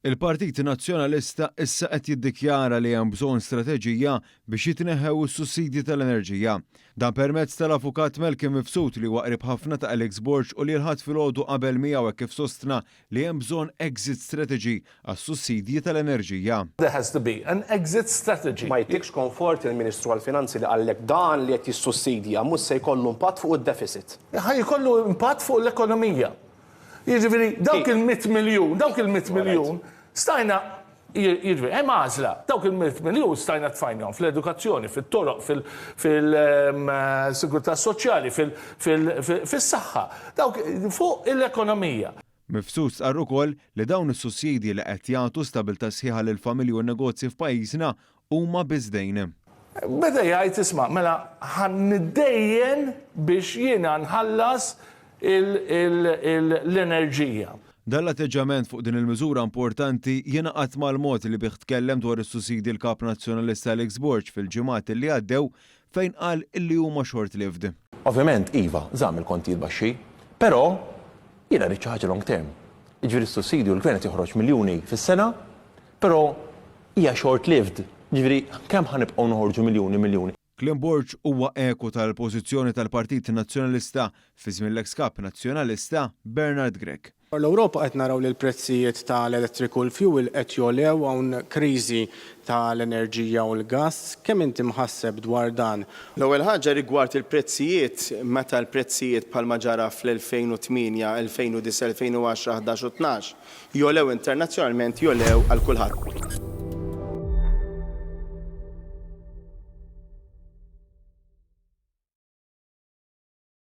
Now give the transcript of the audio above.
Il-Partit Nazzjonalista issa qed jiddikjara li hemm bżonn strateġija biex jitneħħew is-sussidji tal-enerġija. Dan permezz tal-Avukat Malcolm Mifsud li huwa qrib ħafna ta' Alex Borg u li l-Ħadd filgħodu qabel miegħu hekk kif sostna li hemm bżonn exit strategy għas-sussidji tal-enerġija. There has to be an exit strategy. Ma jtikx konfort il-Ministru għall-Finanzi li qallek dan li qed jissussidja mhux se jkollu impatt fuq id-deficit. Ħa jkollu impatt fuq l-ekonomija. Jiġifieri dawk il-mitt miljun, dawk il-mitt miljun stajna, jiġifieri hemm għażla, dawk il-mitt miljun stajna tfajnahom fl-edukazzjoni, fit-toroq, fil-sigurtà soċjali, fis-saħħa, dawk fuq l-ekonomija. Mifsud stqarr ukoll li dawn is-sussidji li qed jagħtu stabiltà sħiħa lill-familji u n-negozji f'pajjiżna Huma biss dejn. Beda jgħid, Isma', mela ħa niddejjen biex jiena nħallas l-enerġija. Dan l-atteġġjament fuq din il-miżura importanti jingħaqad mal-mod li bih tkellem dwar is-sussidji l-Kap Nazzjonalista Alex Borg fil-ġimgħat li għaddew fejn qal illi huma short-lived. Ovvjament, iva, żamm il-kontijiet baxxi. Però, jiena rrid xi ħaġa long term. Jiġifieri s-sussidju l-Gvern qed joħroġ miljuni fis-sena, però hija short-lived. Jiġifieri, kemm ħa nibqgħu noħorġu miljuni, miljuni? Kliem Borg huwa eku tal-pożizzjoni tal-Partit Nazzjonalista fi żmien l-eks Kap Nazzjonalista, Bernard Grech. Dwar l-Ewropa qed naraw li l-prezzijiet ta' l-elettriku u l-fjuwil qed jogħlew, hawn kriżi ta' l-enerġija u l-gass. Kemm inti mħasseb dwar dan? L-ewwel ħaġa rigward il-prezzijiet, meta l-prezzijiet bħalma ġara fl-2008, 2009, 2010, ħdax u tnax jogħlew internazzjonalment jogħlew għal kulħadd.